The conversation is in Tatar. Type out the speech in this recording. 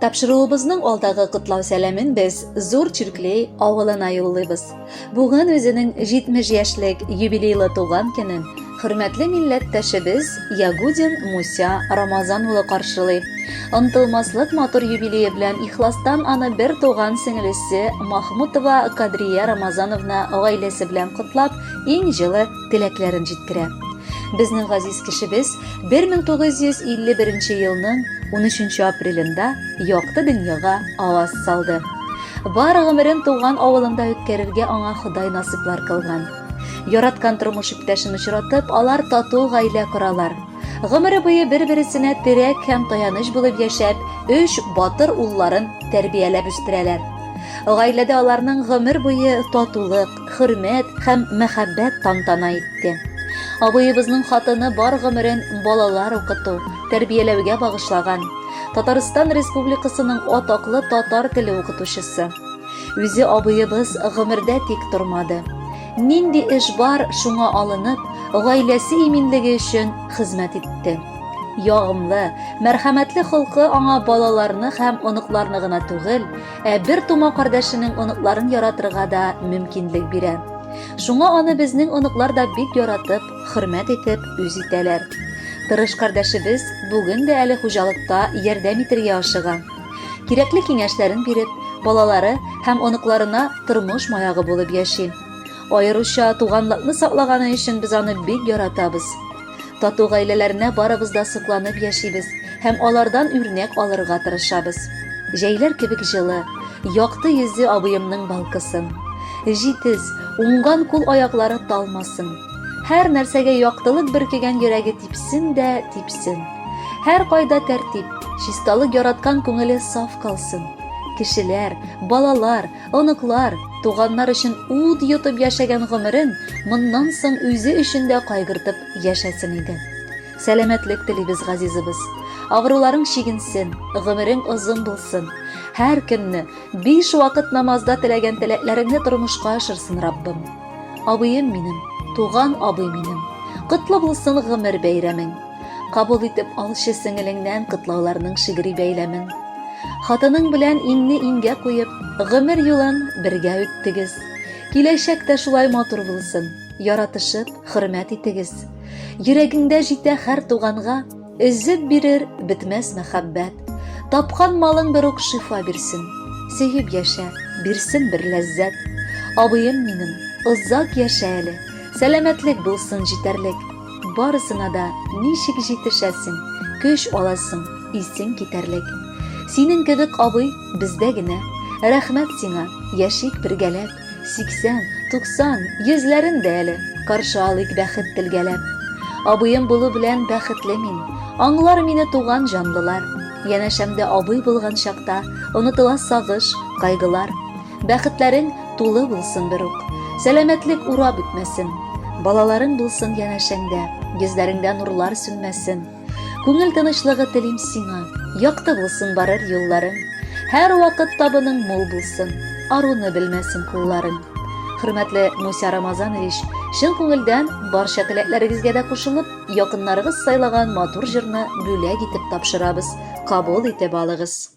Тапшыруыбызның алдагы котлау сәламен без Зур Чирклей авылына юллыйбыз. Бүген үзенең 70 яшьлек юбилейлы туган көнен хөрмәтле милләттәшебез Ягудин Муся Рамазан улы каршылый. Онтылмаслык матур юбилее белән ихластан аны бер туган сеңлесе Махмутова Кадрия Рамазановна гаиләсе белән котлап, иң җылы теләкләрен җиткерә. Безнең газиз кешебез 1951 елның 13 апрелендә якты дөньяга аваз салды. Бар гомерен туган авылында үткәрергә аңа Ходай насыйплар кылган. Яраткан тормыш иптәшен очратып, алар тату гаилә коралар. Гомере буе бер-бересенә терәк һәм таяныч булып яшәп, өч батыр улларын тәрбияләп үстерәләр. Гаиләдә аларның гомер буе татулык, хөрмәт һәм мәхәббәт тантана итте. Абыебызның хатыны бар гомерен балалар укыту, тәрбияләүгә багышлаган. Татарстан Республикасының атаклы татар теле укытучысы. Үзе абыебыз гомердә тик тормады. Нинди эш бар, шуңа алынып, гаиләсе иминлеге өчен хезмәт итте. Ягымлы, мәрхәмәтле холкы аңа балаларны һәм оныкларны гына түгел, Ә бер тума кардәшенең оныкларын яратырга да мөмкинлек бирә. Шуңа аны безнең оныклар да бик яратып, хөрмәт итеп, үз итәләр. Тырыш кардәшебез бүген дә әле хуҗалыкта ярдәм итергә ашыга. Кирәкле киңәшләрен биреп, балалары һәм оныкларына тормыш маягы булып яши. Аеруча туганлыкны саклаганы өчен без аны бик яратабыз. Тату гаиләләренә барыбыз да сокланып яшибез һәм алардан үрнәк алырга тырышабыз. Җәйләр кебек җылы, якты йөзе абыемның балкысын. Җитез, уңган кул-аяклары талмасын. Һәр нәрсәгә яктылык бөркегән йөрәге типсен дә типсен. Һәркайда тәртип, чисталык яраткан күңеле саф калсын. Кешеләр, балалар, Оныклар, туганнар өчен ут йотып яшәгән гомерен моннан соң үзе өчен дә кайгыртып яшәсен иде. Сәламәтлек телибез газизыбыз. Авыруларың чигенсен, гомерең озын булсын. Һәр көнне биш вакыт намазда теләгән теләкләреңне тормышка ашырсын Раббым. Абыем минем, туган абый минем. Котлы булсын гомер бәйрәмең. Кабул итеп алчы сеңелеңнән котлауларның шигъри бәйләмен. Хатының белән иңне иңгә куеп, гомер юлын бергә үттегез. Киләчәк тә шулай матур булсын. Яратышып, хөрмәт итегез. Йөрәгеңдә җитә һәр туганга, өзеп бирер бетмәс мәхәббәт. Тапкан малың бер ук шифа бирсен. Сөеп яшә, бирсен бер ләззәт. Абыем минем, озак яшә әле. Сәламәтлек булсын җитәрлек. Барысына да ничек җитешәсең, көч аласың, исең китәрлек. Синең кебек абый бездә генә. Рәхмәт сиңа, яшик бергәләп, 80, 90, йөзләрен дә әле, каршы алыйк бәхет телгәләп. Абыем булу белән бәхетле мин, аңлар мине туган җанлылар. Янәшәмдә абый булган чакта, онытыла сагыш, кайгылар. Бәхетләрең тулы булсын берүк. Сәламәтлек урап үтмәсен. Балаларың булсын янәшәңдә, йөзләреңдә нурлар сүнмәсен. Күңел тынычлыгы телим сиңа, якты булсын барыр юлларың. Һәр вакыт табының мул булсын, аруны белмәсен кулларың. Хөрмәтле Муся Рамазанович, чын күңелдән барча теләкләрегезгә дә кушылып, якыннарыгыз сайлаган матур җырны бүләк итеп тапшырабыз. Кабул итеп алыгыз.